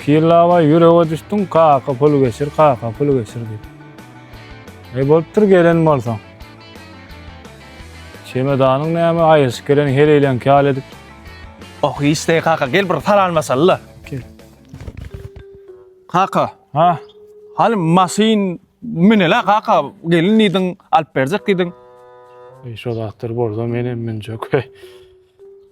Pirlabaý ýürege düşdüň kaka pul geçir kaka pul geçir diýip. Eý bolupdyr gelen bolsaň. Çemedanyň näme aýyrşyp gelen heleýleňki ýaly edip. Oh hiç deý kaka gel bir salamlaşalyda. Gel. Kaka. Ha. Haly maşyn münelä kaka gelin diýdiň alyp berjek diýdiň. Eý şo zatlar bolsa menem münjek.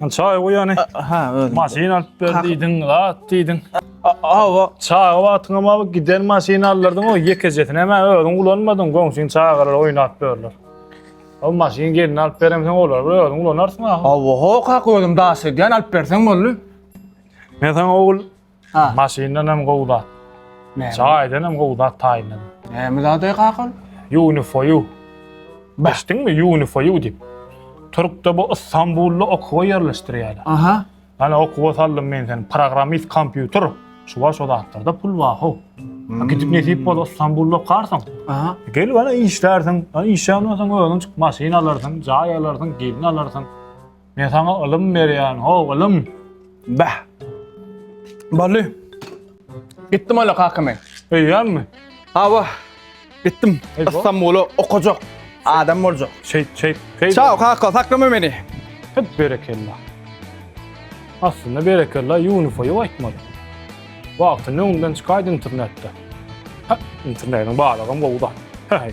Al çaý goý ýany. Ha, özüm. Maşyn alyp ber diýdiň, zat diýdiň. Awa, çaga wagtyňam awa giden maşyn aldyrdyň o ýekejesini hem özüň ulanmadyň, goňşyň çagalar oýnap berler. O maşyn gelin alyp beremseň olar bir özüň ulanarsyň awa. Awa, hok hak özüm daş edýän alyp berseň boldy. Men saňa ogul Ha. Maşyndan hem gowy zat. Näme? Çaýdan hem gowy zat taýyndan. Näme zady kakal? Unifoyu. Bah. Eşitdiňmi Unifoyu diýip. Türkde bu Istanbulda okuwa ýerleşdirýärler. Aha. Ana okuwa saldym men seni. Programmist kompýuter. Şu bar şu zatlarda pul bar ho. Ha, Gidip nesip bolsa Istanbulda okarsyň. Aha. Gelip ana işlärsiň. Ha, işlän bolsaň özüň çyk maşyn alarsyň, jaý alarsyň, gelin alarsyň. Men sana ylym berýän, ho, ylym. Bäh. Bally. Gitdim öyle kaka men. Öýýän mi? Hawa. Gitdim. Ey, bu- İstanbul'a okacak. Adam olacak. Çek, çek. Hey, Çao kaka saklama beni. Hep berekella. Aslında berekella Yunus'a aytmadı. Vakti ne ondan çıkaydı internette. Ha, internetin bağlığım bu da. Hey.